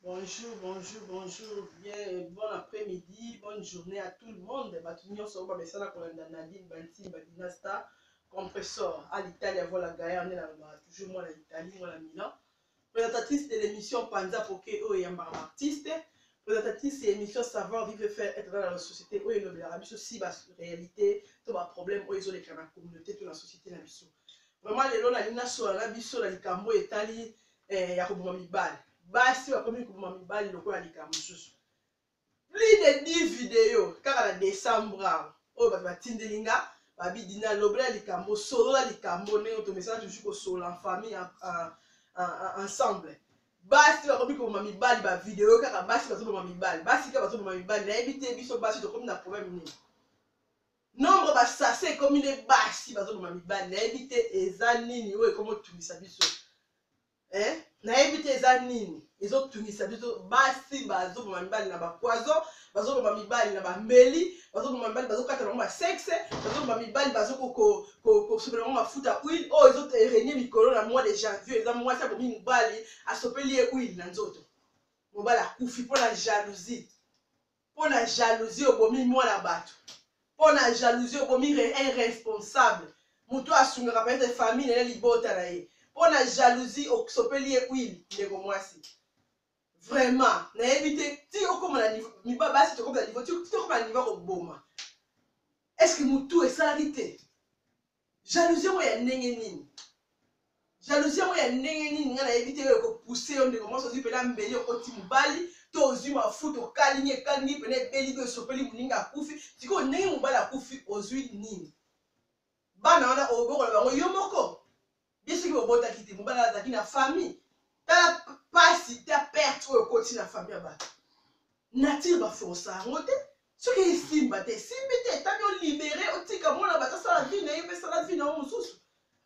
Bonjour, bonjour, bonjour, bien, bon après-midi, bonne journée à tout le monde. Batu nyonso oyo bamesana kolanda Nadine Bantimba Dinasta Compressor à l'Italie avant la guerre nde nalobaka toujours mwana Italie, mwana Milan. Présentatrice de l'émission Panza Poke oyo eyambaka baartiste. Présentatrice ya émission Savoir Vivre et Faire Être dans la société oyo elobelaka biso si ba réalité to ba problème oyo ezoleka na communauté to na société na biso. Vraiment lelo nalingi nasola na biso na likambo oyo etali eh, ya koboma mibali basi bakomi koboma mibali lokola likambo mosusu plus de 10 video kaka na décembre awa oyo bato batindeli nga babi dina lobela likambo solola likambo ndenge tomesana toujours kosolola en famille ensemble basi bakomi koboma mibali bavideo kaka basi bazoboma mibali basi kaka bazoboma mibali nayebi te biso basi tokomi na problème nini nombre ba sase ekomi nde basi bazoboma mibali nayebi te eza nini oyo ekomotungisa biso eh? nayebi te eza nini ezotungisa biso basi bazoboma mibali na bapoison bazoboma mibali na bambeli bazoboma mibali bazokata bango basexe bazoboma mibali bazokosopela bango mafuta huile oyo ezoterenie mikolo na mois de janvier eza mwasi abomi mobali asopeli ye huile na nzoto mobali akufi mpo na jalousie mpo na jalousie obomi mwana bato mpo na jalousie obomi irresponsable moto oyo asungaka peut-être famille na ye libota na ye mpo na jalousie osopeli ye huile ndeko mwasi vraiment nayebi te ti okoma na niveau miba basi tokoma na niveau ti okoma na niveau koboma est ce que motu esalaki te jalousie yango ya ndenge nini jalousie yango ya ndenge nini ngai nayebi te oyo ekopuse yo ndeko mwasi ozwi mpena mbeli okoti mobali to ozwi mafuta okalingi ekalingi mpena ebeli to esopeli moninga akufi sikoyo ndenge mobali akufi ozwi nini bana wana obokola bango yo moko ye soki bobotaki te mobali azalaki na famille tala pasi ta perte oyo okoti na famille ya bato nature baforsa yango te soki esimba te esimbi te etami olibere otika mwana bato asala vi na ye mpe sala vi na yo mosusu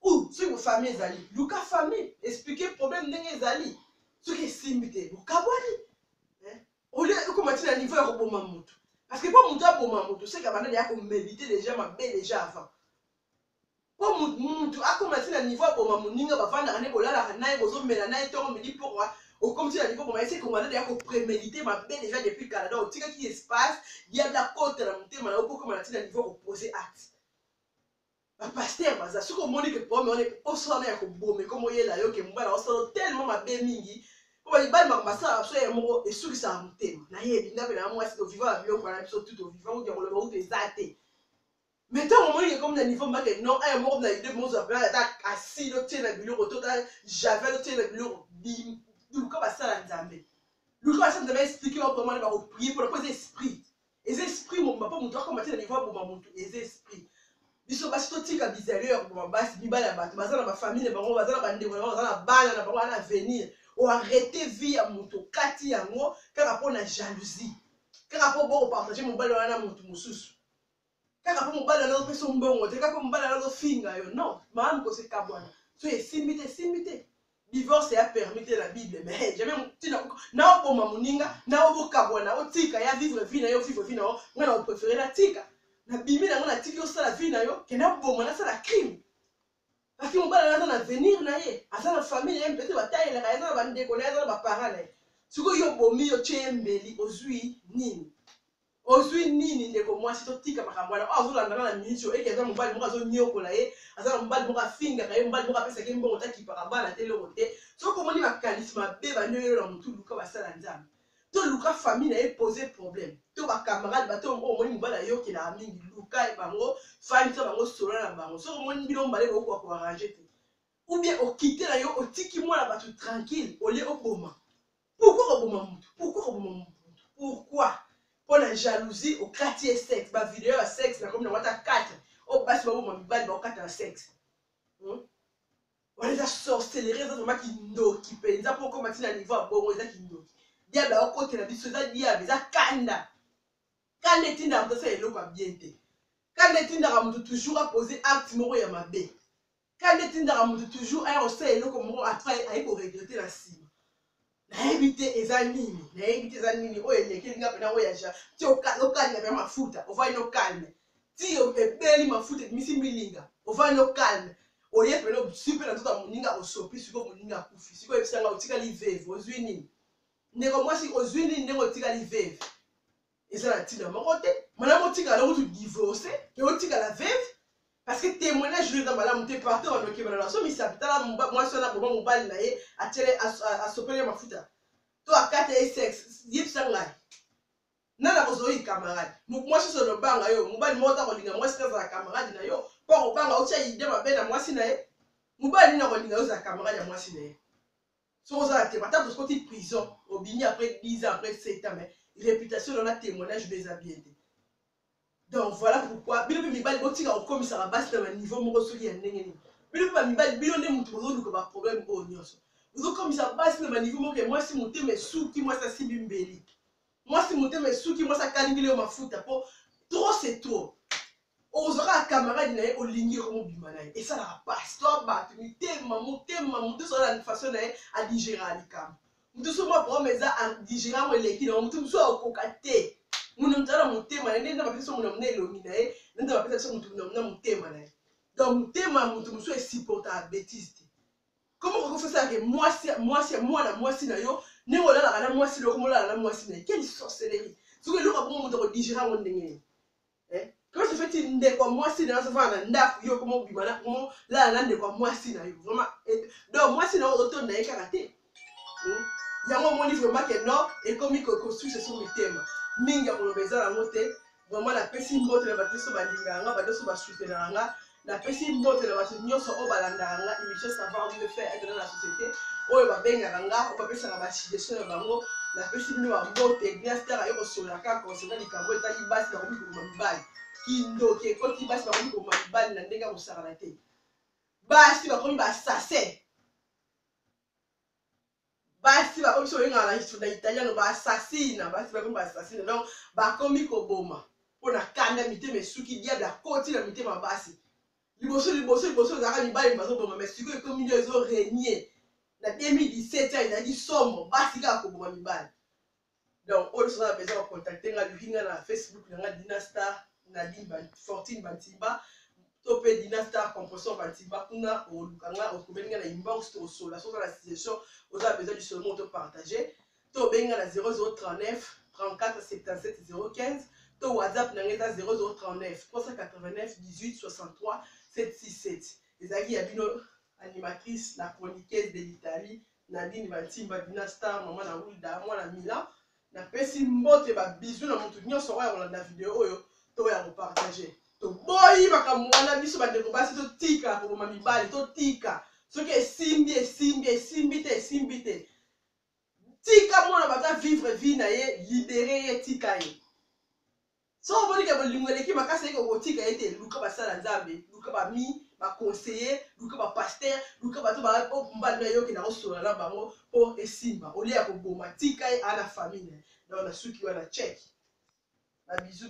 ou soki bofamille ezali luka famille explike problème ndenge ezali soki esimbi te bokabwani eh? olie ekoma ti na niveau ya koboma motu parce que mpo motu aboma motu seke abanda deya komedite deja mabe deja avant po mutu akoma ti na niveau aboma moninga bavandaka nde bolalaka naye bozomela naye tongo midi pourquoi okomisi na niveau boma ese kongana deya ko premedite mabe deja depuis kala donc otikaki espace diable akota na motema na yo po okoma na ti na niveau kopose acte bapaster baza soki omoni ke pome wana poso wana ya koboma ekoma oyela yo ke mobala osala tellement mabe mingi po balibali makambo basala biso ye moko esukisaka motema nayebi nga mpe na mwasi tovivaka biloko na biso tu tovivaka uti ya koloba utu eza te mais ntango omoni ekomi na niveau mbake no aya moko na idee mozwa plan ata asile otie na biloko to ta javel otie na biloko luka basala nzambe luka basala nzambe explike bango comment nde bakoprie mpona mpo eza esprit eza esprit mobimba mpo moto akoma te na niveau aboma moto eza esprit biso basi totika bizali oyo ya koboma basi mibali ya bato baza na bafamile na bango baza na bandeko na bango baza na bana na bango wana avenir oarrete vie ya moto okati yango kaka mpo na jalousie kaka mpo bokopartage mobali wana na moto mosusu kaka mpo mobali wana opesa yo mbongo te kaka mpo mobali wana azofinga yo non malamu kosekabwana so esimbi te esimbi te divorce ya permis te na bible mais hey, jamais ntina na oboma moninga na obokabwana otika ya vivre vie na yo vivre vie na yo nga na opréféré natika nabimi nango natiki osala vie na yo ke naboma nasala crime parceke mobali aza na avenir na ye aza na famille ye mpete batayelaka aza na bandeko na ye aza na baparent na ye sikoyo yo obomi yo tye ye mbeli ozwi nini Ozui nini ndeko muasi totika makambo wana oyo azolanda na na minute oyo eke aza mobali moko azoniokola ye aza na mobali moko afingaka ye mobali moko apesaka ye mbongo takipaka bana te eloko te soki omoni makanisi mabe bandi oyelo na motu luka basala nzambe to luka famille na ye pose problème to ba camarade bato oyo omoni mobali ayokelaka mingi luka bango fandisa bango solola na bango soki omoni bino mibale bokoka ko arrange te ou bien okite na yo otiki mwana bato tranquille olie oboma pourquoi koboma mutu pourquoi koboma mutu pourquoi mpo na jalousie okati ye sexe bavideo ya sexe nakomi nango ata 4 oyo basi baboma mibali baokata na sexe hmm? wana eza sorcellerie eza vraimen kindoki mpenza mpo okoma ntina niveau ya bongo eza kindoki diable aokotela biso eza diable eza kanda kanda etindaka moto asala eloko ya bien te kanda etindaka moto toujours apose acte moko ya mabe kanda etindaka moto toujours aya kosala eloko moko après aye koregrete na nsima nayebi te eza nini nayebi te eza nini oyo elekeli nga mpena oyo ya ja ti okalina mpe mafuta ovai no calme ti ebeli mafuta ebimisi milinga ovai no calme oye mpena osi mpe na nzoka moninga osopi sikoyo moninga akufi sikoyo oyebisa nga otikali veve ozwi nini ndeko mwasi ozwi nini ndenge otikali veve eza na ntina moko te malamu otikala kutu divorce ke otikala veve parce que témoignage oyo eza malamu te partout bandoki bana nasomisa tala mwasi wana boma mobali na ye atyele asopele mafuta to akata ye sex yebisa ngai na nakozoi camarade mwasi oso olobanga yo mobali moko ta kolinga mwasi te azala camarade na yo mpo akobanga otya ide mabe na mwasi na ye mobali nini akolinga yo ozala camarade ya mwasi na ye soki oza na tema ata tosikoti prison obimi après 10 ans après 7 ans mais réputation na na témoignage beza bien te donc voilà pourquoi bino mpe mibali botika kokomisaka basi na baniveau moko soki ya ndenge nini bino mpe bamibali bino nde moto bozoluka baproblème oyo nyonso bozokomisa basi na baniveau moko ya mwasi motema esuki mwasi asimbi mbeli Mwasi motema esuki mwasi akalingeli yo mafuta po trop c'est trop. Ozwa kaka camarade na ye olingi yo mobima na ye esalaka pasi to bato mitema motema moto nyonso na façon na ye adigera likambo moto nyonso mwa problème eza adigera yango eleki na yango moto mosusu akokoka te muna moto aza na motema na ye nde bapesa muna muna elongi na ye na nde bapesa biso moto muna muna motema na ye donc motema ya moto mosusu esupportaka bétise te Comment vous pouvez faire que moi, moi, moi, la moi, si nayo, ne wala la la moi, si le comme la la moi, si nayo, quelle sorcellerie. Ce que l'autre bon moto digérer mon dingé. Eh? Comment se fait-il ne quoi moi si nayo, ça va na nda, yo comment bimana, comment la la ne quoi moi si nayo, vraiment. Donc moi si nayo auto nayo karaté. yango omoni vraiment ke non ekomi koconstruire se sur mitema mingi ya koloba eza yango te vraiment napesi mbote na bato nyonso balingaka nga bato nyonso basutenaka nga napesi mbote na bato nyonso oyo balandaka nga émission savoir mieux faire etana na société oyo babengaka nga oyo bapesaka basuggestion na bango napesi bino bambote glaster aye kosola kaka konsena likambo etali basi bakomi kokoma mibali kindoki ekoti basi bakomi kokoma mibali na ndenge ya kosakana te basi bakomi basase basi bakomi biso oyengaka na italiano baasasina basi bakomi baasasina donc bakomi koboma mpo na kanda mitema esuki diable akoti na mitema basi liboso liboso liboso ezalaka mibali bazoboma mai sikoyo ekomi nde ezo renie na 2017 ezalaki somo basi kaka koboma mibali donc oyo soza na besoin bacontacte nga luki nga na facebook na nga dina star nadine fortune bantiba to mpe dina star composition bantiba kuna oluka nga okobeli nga na inbox tokosola soza na situation oza na besoin lisolo moko topartage to obengi nga na 0039 34 77 015 to whatsapp na nga eza 0039 389 18 63 767 ezalaki ya bino animatrice la chroniqueuse de l'italie Nadine Bantimba, Dina Star, mama na Wilda, mwana Milan. Napesi mbote ba bisous na moto nyonso oyo akolanda video oyo to ya kopartage. Toboyi makambo wana biso bandeko basi totika koboma mibali, totika soki esimbi esimbi esimbi te esimbi te tika mwana baza vivre vie na ye libere ye tika ye soki omoni ke bolingo eleki makasi eke okotika ye te luka basala nzambe luka bami baconseiller luka bapaster luka bato mbanda oh, yoke na kosolola na bango mpo esimba olie ya koboma tika ye ana famille na yo na suki wana cheki babizu